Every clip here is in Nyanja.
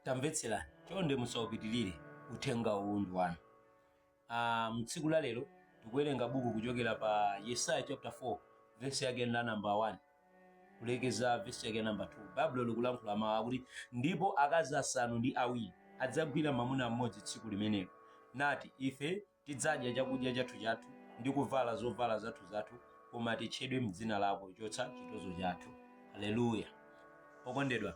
tamvetserani chonde musaupitirire uthenga uwu ndi wanu Ah, mtsiku la lero tikuwerenga buku kuchokera pa yesaya chapter 4 vesi yake la namba 1 kulekeza vesi yake namba 2 baibulo likulankhula mawu akuti ndipo akazi asanu ndi awiri adzagwira mwamuna mmodzi tsiku limenelo nati ife Tidzadya chakudya chathuchathu, ndi kuvala zovala zathuzathu, koma titchedwe m'dzina lako, chotsa chitozo chathu. Haleluya! Okondedwa,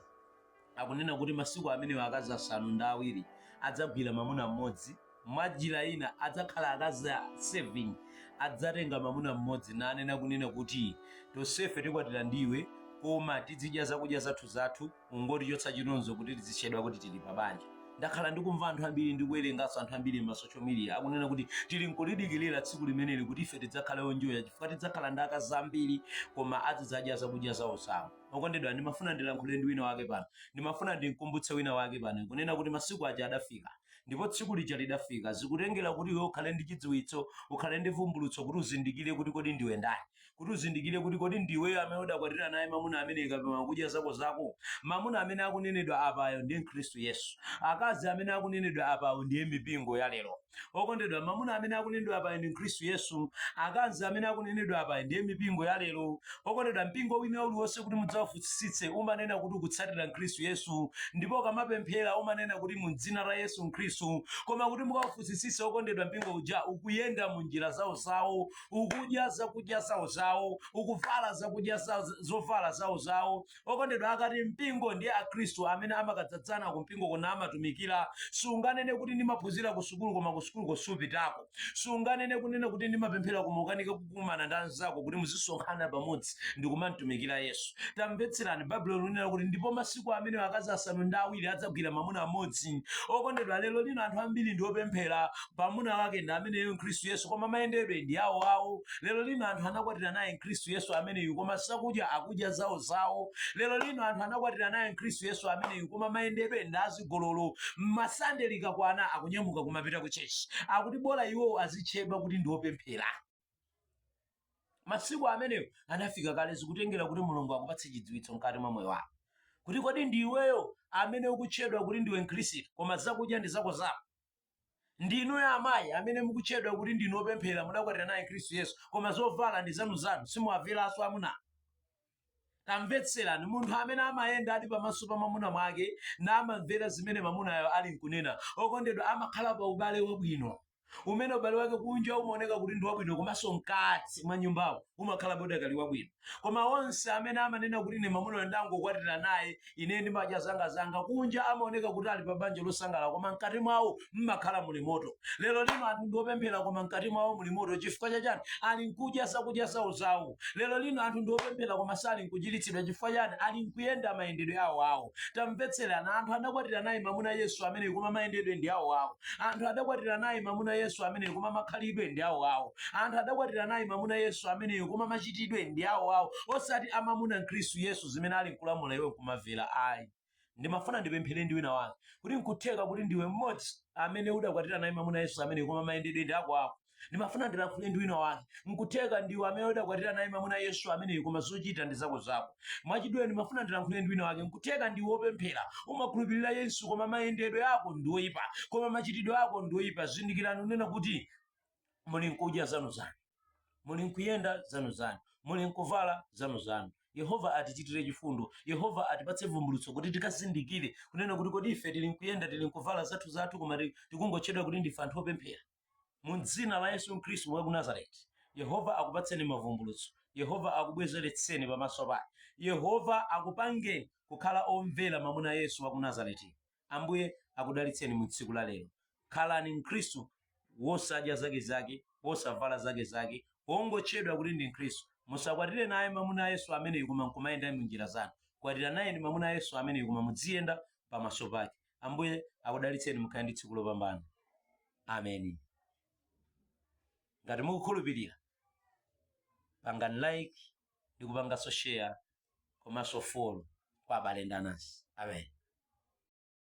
akunena kuti masiku amenewo akazi asanu ndi awiri adzagwira mamuna m'modzi, mwanjira ina adzakhala akazi 7 adzatenga mamuna m'modzi nanena kunena kuti, tonsefe tikwatira ndi iwe, koma tidzidya zakudya zathuzathu, ungotichotsa chitonzo kuti tizitchedwa kuti tili pa banja ndakhala ndikumva anthu ambiri ndikuwerenganso anthu ambiri ma social media akunena kuti tili nkulidikirira tsiku limeneli kuti ife tidzakhale onjoya chifukwa tidzakhala ndi akazi ambiri koma azidzadya zakudya zawo zawo okondedwa ndimafuna ndilankhule ndi wina wake pano ndimafuna ndimkumbutse wina wake pano kunena kuti masiku aja adafika ndipo tsiku lija lidafika zikutengera kuti iwe ukhale ndi chidziwitso ukhale ndi vumbulutso kuti uzindikire kuti kodi ndiwe ndani kuti uzindikire kuti kodi ndiweyo amene udakwatira naye mamuna amene kapena akudya zako zako mamuna amene akunenedwa apayo ndi mkhristu yesu akazi amene akunenedwa apayo ndiye mipingo ya lero okondedwa mamuna amene akunenedwa apayo ndi mkhristu yesu akazi amene akunenedwa apayo ndiye mipingo ya lero okondedwa mpingo wina uliwonse kuti mudzawufunsitsitse umanena kuti ukutsatira mkhristu yesu ndipo ukamapemphera umanena kuti mu dzina la yesu mkhristu koma kuti mukawufunsitsitse okondedwa mpingo uja ukuyenda mu njira zawo zawo ukudya zakudya zawo zawo ukuvala zakudya zovala zawo zawo okondedwa akati mpingo ndi akhristu amene amakadzadzana ku mpingo kona amatumikira sunganene kuti ndimaphunzira ku sukulu koma ku sukulu kosupitako sunganene kunena kuti ndimapemphera koma ukanika kukumana ndi anzako kuti muzisonkhana pamodzi ndikumamtumikira yesu tamvetserani baibulo linena kuti ndipo masiku amenewo akazi asanu ndi awiri adzagwira mamuna mmodzi okondedwa lero lino anthu ambiri ndi opemphera mamuna wake ndi ameneyo mkhristu yesu koma mayendedwe ndi awo awo lero lino anthu anakwatira naye mkhristu yesu ameneyu koma zakudya akudya zawo zawo lero lino anthu anakwatira naye mkhristu yesu ameneyu koma mayendedwe ndi azigololo pa sande likakwana akunyamuka kumapita ku tchetchi akuti bola iwowo azitchedwa kuti ndi opemphera masiku amenewo anafika kale zikutengera kuti mulungu akupatse chidziwitso mkati mwa moyo wako kuti kodi ndi iweyo amene ukutchedwa kuti ndiwe mkhristu koma zakudya ndi zako zako Ndi inuyo amayi amene mukutchedwa kuti ndinu opemphera mudakwatira naye Khristu Yesu, koma zovala ndi zanuzanu, simuwamveranso amuna anu. Tamvetserani, munthu amene amayendadi pamaso pa mamuna wake namamvera zimene mamunayo alinkunena, okondedwa, amakhala pa ubale wabwino, umene ubale wake kunja umaoneka kuti ndi wabwino komanso mkati mwa nyumbamo umakhalabe udakali wabwino. koma onse amene amanena kuti ine mamunayo ndangokwatira naye ine ndimadya zanga zanga kunja amaoneka kuti ali pa banja losangalala koma mkati mwawo mmakhala muli moto lero lino anthu ndiopemphera koma mkati mwawo muli moto chifukwa chachani ali nkudya zakudya zawo zawo lero lino anthu ndiopemphera koma sali nkuchiritsidwa chifukwa chani ali nkuyenda mayendedwe awo awo tamvetserana anthu adakwatira naye mamuna yesu amene koma mayendedwe ndi awo awo anthu adakwatira naye mamuna yesu ameneyu koma makhalidwe ndi awo awo anthu adakwatira naye mamuna yesu ameneyu koma machitidwe ndi awo awo osati amamuna khristu yesu zimene ali nkulamula iwe kumavera ayi ndimafuna ndipemphere ndi wina wake kuti nkutheka kuti ndiwe mmodzi amene udakwatira naye mamuna yesu ameneyu koma mayendedwe ndi ako ako ndimafuna ndilankhule ndi wina wake nkutheka ndiwe amene udakwatira naye mamuna yesu ameneyu koma zochita ndi zako zako mwachidule ndimafuna ndilankhule ndi wina wake nkutheka ndiwe wopemphera umakhulupirira yesu koma mayendedwe ako ndi oyipa koma machitidwe ako ndi oyipa zindikirani kunena kuti muli nkudya zanu zanu muli nkuyenda zanu zanu muli nkuvala zanu zanu yehova atichitire chifundo yehova atipatse vumbulutso kuti tikazindikire kunena kuti kodi ife tili nkuyenda tili nkuvala zathu zathu koma ti- tikungotchedwa kuti ndife anthu opemphera mu dzina la yesu khristu wa ku nazareti yehova akupatseni mavumbulutso yehova akubwezeretseni pamaso pake yehova akupangeni kukhala omvera mamuna yesu wa ku nazareti Ambuye akudalitseni mu tsiku la lero. Khalani Mkhristu wosadya zake zake, wosavala zake zake, wongotchedwa kuti ndi Mkhristu. Musakwatire naye mamuna Yesu ameneyu koma nkumayenda mu njira zanu. Kwatiranayeni mamuna Yesu ameneyu koma mudziyenda pamaso pake. Ambuye akudalitseni mukhale ndi tsiku lopambana. Amen. Ngati mukukhulupirira, pangani like, ndi kupanganso share komanso follow kwa abale ndi anansi. Amen.